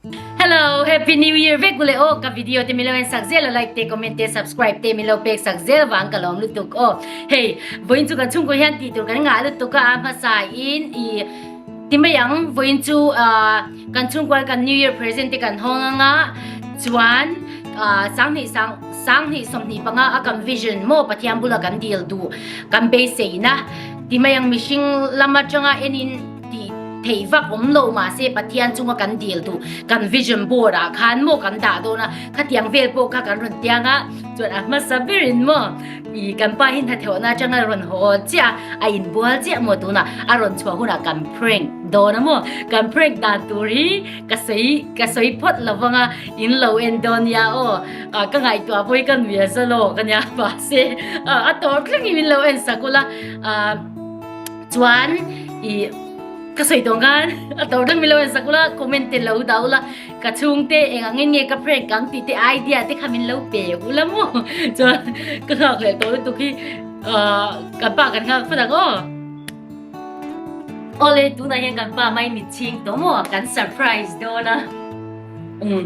Hello, Happy New Year vek ule o ka video te milo en sak zel like te comment te subscribe te milo pek sak zel wang ka lom lutuk o hey voin chu ka chung ko hian ti tur kan nga lutuk a ma sa in i timayang voin chu a kan chung kwal kan New Year present te kan hong anga chuan sang ni sang sang ni som ni panga a kan vision mo pathian bula kan deal du kan beiseina timayang mihring lama changa enin tih theih vak awm lo mahse Pathian chunga kan dil duh kan vision board ah khan maw kan dah dawn a khatiang vel pawh kha kan rawn tiang a chuan a hmasa berin maw i kan pa hi hnatheuhna atanga rawn haw chiah a inbual chiah maw tunah a rawn chhuah hunah kan prank dawn a maw kan prank dan tur hi ka sawi ka sawi phawt lo vang a in lo en dawn nia aw ka ngaihtuah pawh hi ka nuiha zalaw ka nia mahse a tawr thleng in lo en sak ula Chuan i ka sawi tawng khan a tor dang mi lo en sak ula comment te lo dah ula ka chhung te eng ang nge ka prank ang tih te idea te kha min lo pe ula maw chuan ka nghak leh tawh lutuk hi kan pa kan nghak fatak aw ole tunah hian kan pa mai mitching tawh maw kan surprise dawn a um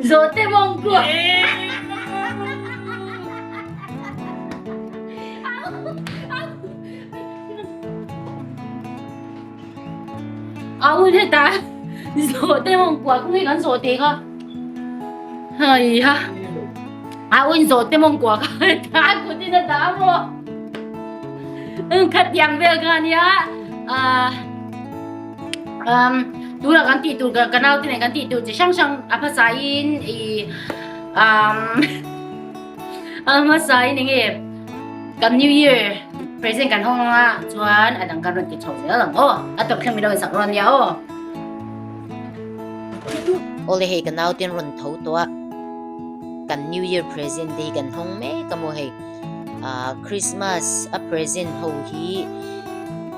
Zawhte mawng kuah. Aun heta zawhte mawng kuah kung kan zawh te ka. Hai ha. Aun zawhte mawng kuah ka ta kutin a ta mo. Khat yang vel ka nia. À, um tura kan ti tur ka nau te nen kan ti tur chi hrang hrang a hmasa in i um a hmasa in enge kan new year present kan hong a chuan a dang kan ron ti chho zel ang o a top thleng mi lo in sak ron nia o ole hei ka nau ten ron tho to a kan new year present te hi kan hong mek a maw hei Ahh Christmas a present ho hi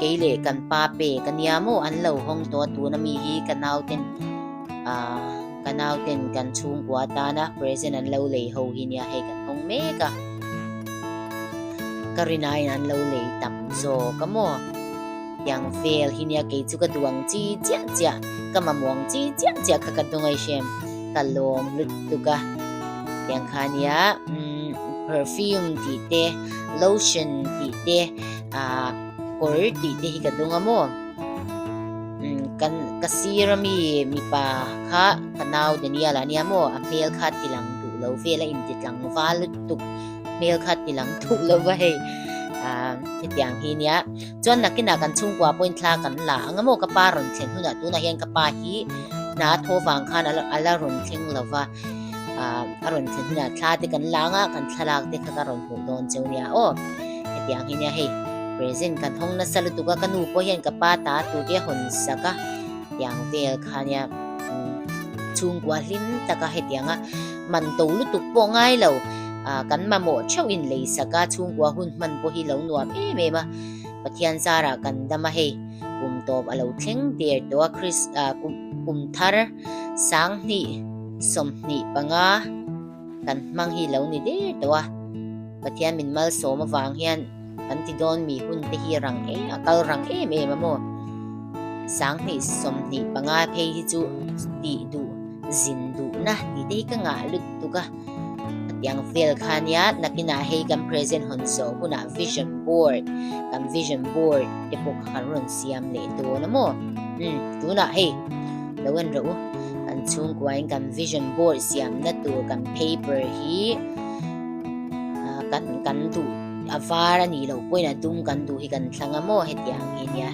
kei leh kan pa pe ka nia maw an lo hawng tawh a tuna mi hi ka nauten ahh ka nauten kan chhungkua atana present an lo lei ho hi nia hei kan hawng mek a ka rinaiin an lo lei tam zawk a maw. Tiang fel hi nia kei chu ka duang chi chiah chiah, ka mamuang chi chiah chiah kha ka hnu ngei shem. Ka lawm lut tuk a. Tiang kha nia umm perfume tih te, lotion tih te, ah kawr tih te hi ka dawng a maw. Umm kan ka sir ami mipa kha ka nau Daniel ania maw a hmel kha tilang duh lo vel a inti tlangval lut tuk. Hmel kha tilang duh lo va hei. Ah hetiang hi nia. Chuan nakinah kan chhungkua pawhin thla kan la ang emaw ka pa rawn thlen hunah tunah hian ka pa hi hna thaw vang khan a la rawn thleng lo va, a rawn thlen hunah thla te kan la ang a, kan thlalak te kha ka rawn hmuh dawn che nia aw. Hetiang hi nia hei present kan hawng nasa lutuk a, ka nu pawh hian ka pa ta tur hi a hawn sak a, tiang vel kha nia chhungkua hlim taka hetianga. man to lutuk pawh ngai lo a kan mamawh theuhin lei saka chhungkua hun hman pawh hi lo nuam em em a pathian zara kan dam a hei kum tawp a lo thleng der tawh a chris a kum kum thar sang hnih som hnih panga kan hmang hi lo ni der tawh a pathian min mal sawm avang hian Kan ti dawn mi hun te hi rang em a kal rang em em a maw? Sang hnih som hnih panga phei hi chu ti duh zin duh na ti te hi ka ngah lut tuk a. Tiang vel khan ya nakina hei kan present hon so huna vision board kan vision board te pawh kan ron siam leh dawn a maw um tuna hei lo en ro kan chhungkuain kan vision board siam na tur kan paper hi kan kan duh A var a nih loh pawhin a dum kan duh hi kan thla ngam aw heti ang hi nia.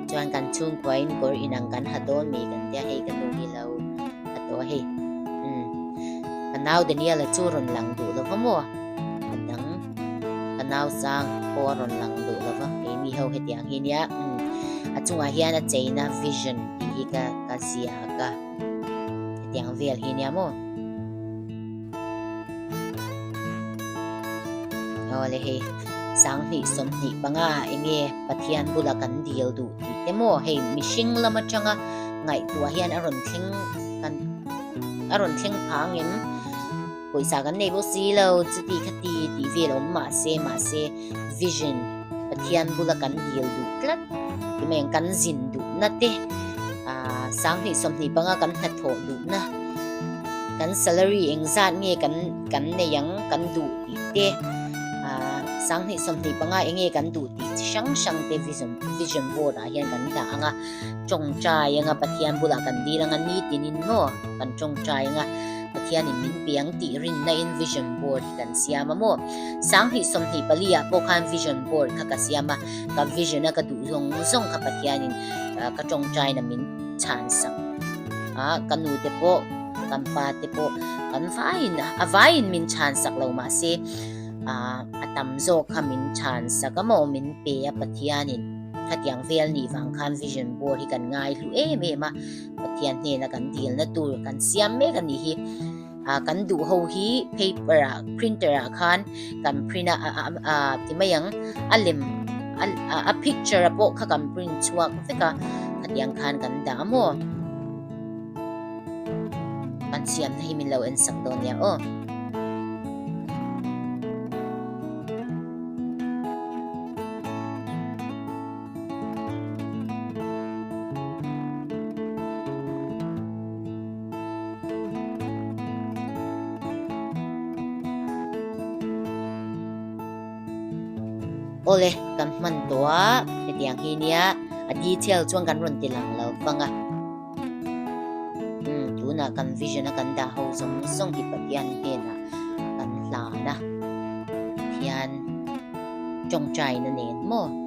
Chuan kan chung kuain kawr inang kan ha dawn mai kan tia hei kan duh hi lo ha tawh hei. Um. Ka nau Daniela chu rawn lang duh lo va maw? Ka dang. Ka nau chang pawh a rawn lang duh lo va. Kei mi ho heti ang hi nia. Um. A chungah hian a cheina vision. tih hi ka ka zia ka tiang vel hi nia maw aw le hei sang hnih som hnih panga enge pathian bula kan dil du tih te maw hei mihring lam atanga ngaihtuah hian a rawn thleng kan a rawn thleng phang em pawisa kan nei pawh si lo chuti kha ti tih vel awm mah se mah se vision pathian bula kan dil duh tlat ti mai kan zin duh na te a sang hnih som hnih panga kan hna thaw duh na kan salary engzat nge kan kan nei ang kan duh tih te a sang hnih som hnih panga enge kan duh tih chi hrang hrang te vision vision board ah hian kan ta anga tawng trai anga pathian bula kan dil anga ni tinin maw kan tawng trai anga Pathianin min piang tih rinna in vision board hi kan siam a maw. Sang hnih sawm hnih pali ah pawh khan vision board kha ka siam a, ka vision a ka duh zawng zawng kha Pathianin ka tawngtaina min chhan sak a, ka nu te pawh kan pa te pawh kan vaiin a vaiin min chhan sak lo mah se a tam zawk kha min chhan sak a maw min pe a Pathianin khatiang vel nih vang khan vision board hi kan ngai hlu em em a. Pathian hnena kan dilna tur kan siam mek a nih hi a kan duh ho hi paper a printer a khan kan print a ti mai ang a lem a picture a pawh kha kan print chuak vek a khatiang khan kan da mo kan siam na hi min lo en sak do nia o Ole kan hman tawh a hetiang hi nia a detail chuan kan rawn ti lang lo vang a. tunah kan vision a kan dah ho zawng zawng hi Pathian hnena kan hlana Pathian tawngtaina nen maw